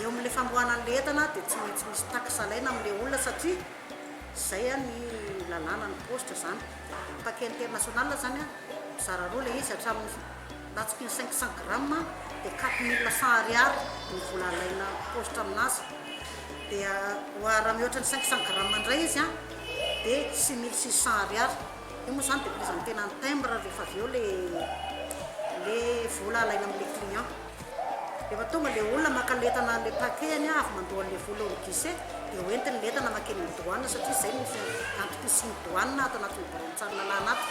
Eo amin'ilay famoahana an'ilay entana dia tsy maintsy misy taxe alaina amin'ilay olona satria izay ny lalàna ny paositra izany. Paquet international izany an, mizara roa ilay izy hatramin'ny latsky ny cinq cent grammes dia quatre mille cent ariary ny vola alaina paositra aminazy. Dia raha mihoatra ny cinq cent grammes indray izy an dia six mille six cent ariary. Io moa zany de prise en tena ny timbre rehefa avy eo le le vola alaina amle client. Rehefa tonga le olona maka le entana le paquet-ny avy mandoa anle vola eo am guichet de ho entiny le entana makeny am douane satria zay no antom-pisian'ny douane ato anatin'ny biraon-tsanilalahy ato.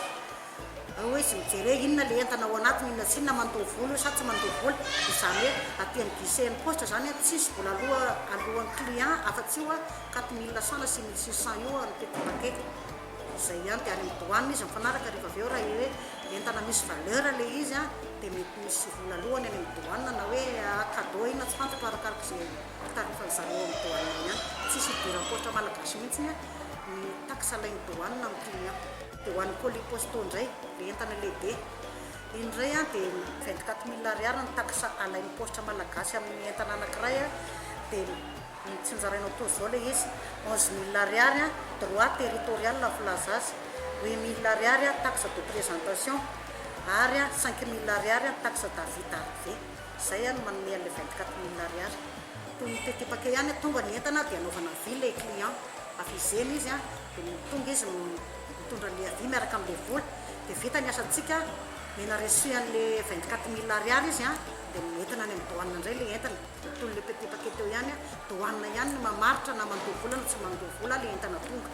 Ao hoe izy mijere hoe inona le entana ao anatiny inona sy inona mandoa vola io sa tsy mandoa vola izany hoe aty am guichet an'ny poste zany a tsisy vola aloa aloan'ny client afa tsy io a quatre mille cent na six mille six cent io a ny petit paquet. izay ihany dia any amin'ny douane izy mifanaraka rehefa avy eo raha hoe entana misy valeur ilay izy an dia mety misy vola lohany any amin'ny douane na hoe cadeau inona tsy fantatro arakaraka izay tarifan-dry zareo ao amin'ny douane any ihany, tsisy hidiran'ny paositra malagasy mihitsy ny taxe alain'ny douane amin'ny prix an. Dia ho an'ny colis postaux indray, ilay entana lehibe, iny indray an dia vingt-quatre mille ariary ny taxe alain'ny paositra malagasy amin'ny entana anankiray an dia. Dia tsy nozarainao toa zao le izy, onze mille ariary an, droit territorial no filaza azy, huit mille ariary an, taxe de présentation, ary an, cinq mille ariary an, taxe d'avis d'arrivée. Izay an no manome an'ilay vingt quatre mille ariary. Toy ny tetepaka ihany an, tonga ny entana dia anaovana avis ilay client, avisena izy an, dia tonga izy mitondra an'ilay avis miaraka amin'ilay vola, dia vita ny asantsika, omena reçu an'ilay vingt quatre mille ariary izy an, dia entina any amin'ny douane indray ilay entana. Tontolo le pepetake teo ihany a! Douane ihany no mamaritra na mandoa vola na tsy mandoa vola le entana tonga.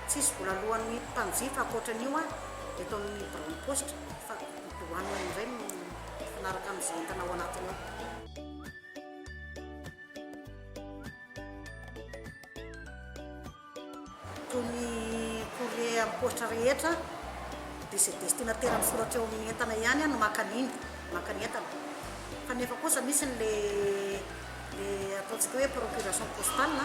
Tsisy vola aloan'ny mpanjifa ankoatran'io a! Eto amin'ny biraon'ny paositra fa ny douane indray no mifanaraka amin'izay entana ao anatiny ao. Toy ny courrier am-poitra rehetra, dia izay destinataire misoratra eo amin'ny entana ihany no maka an'iny, maka ny entana. Fa nefa kosa misy ny le le ataontsika hoe procuration postale,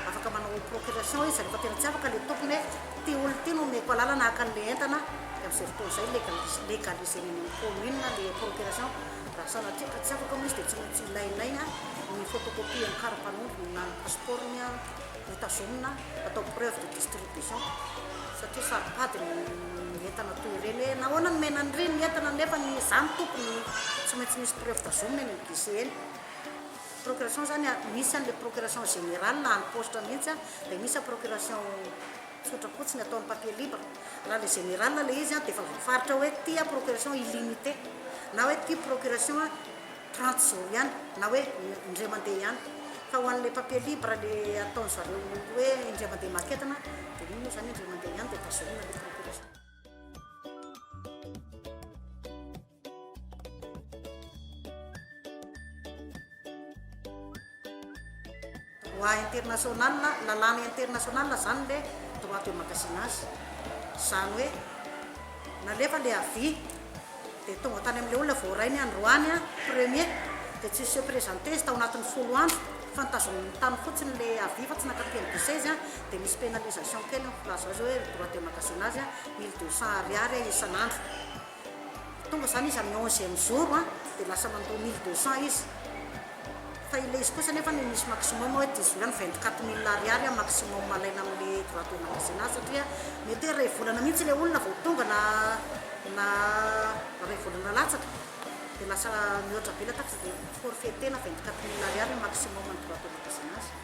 afaka manao procuration izy rehefa tena tsy afaka le tompony hoe ity olona ity no omeko alalana haka an'le entana, dia amin'izay fotoana izay legaliser legaliser eny amin'ny commune le procuration. Raha sanatria ka tsy afaka moa izy dia tsy maintsy ilainay ny photocopie ny kara-panondrony na ny passeport-ny. ho tazomina atao preuve de distribution satria saropady ny entana toy ireny hoe nahoana no mena an'ireny ny entana nefa ny za no tompony no tsy maintsy misy preuve tazomina eny amin'ny guichet eny. Procuration zany misy an'ilay procuration générale na any poste mihitsy an, dia misy procuration tsotra fotsiny atao amin'ny papier libre. Raha ilay générale ilay izy an dia efa voafaritra hoe ity an procuration illimité na hoe ity procuration trente zao ihany na hoe indray mandeha ihany fa ho an'ilay papier libre le ataony zareo hoe indray mandeha maketana de iny moa zany indray mandeha ihany de vaserina le procuration. Droit international, lalàna international zany le droit de magasina azy. Zany hoe nalefa le avis de tonga tany amle olona voaray ny androany an, premier de tsy se presenter izy tao anatin'ny folo andro fa notazominy tany fotsiny le avis fa tsy naka PM de seize an, de misy penalisation kely eo, laza zao hoe droit de magasina azy an, mille deux cents ariary an isan'andro. Tonga izany izy amin'ny onzième jour dia lasa mandoa mille deux cents izy fa ilay izy kosa nefa no misy maximum hoe dix huit na vingt quatre mille ariary maximum alaina amin'ilay droit de magasin azy satria mety hoe iray volana mihitsy ilay olona vao tonga na na iray volana latsaka dia lasa mihoatra be ilay taxe dia forfaiter-na vingt quatre mille ariary no maximum ny droit de magasin azy.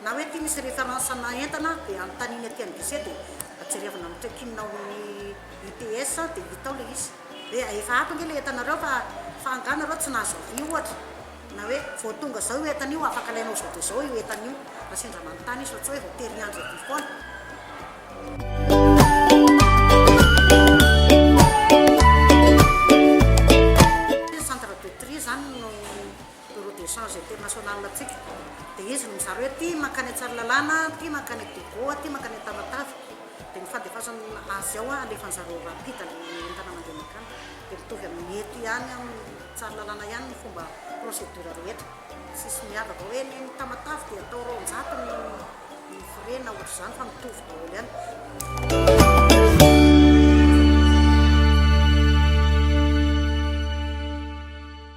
Na hoe aty misy reference ana entana dia anontaniany aty amin'ny guichet dia jerevina amin'ny check in ao amin'ny UTS dia hita ao ilay izy hoe efa ato ange ilay entanareo fa fa angaha nareo tsy nahazo avis ohatra na hoe vao tonga zao io entana io afaka alainao zao dia zao io entana io raha sendra manontany izy fa tsy hoe vao tery andro aty foana. Bureau de change international antsika dia izy no mizara hoe ity mankany Antsarilalana, ity mankany Dogo, ity mankany Antamatave, dia ny fandefasany azy ao alefany zareo rapide ny entana mandeha mankany, dia mitovy amin'ny eto ihany amin'ny Tsarilalana ihany ny fomba procedure rehetra, tsisy miavaka hoe ny any Tamatave dia atao roanjato ny frais na ohatr'izany fa mitovy daholo ihany.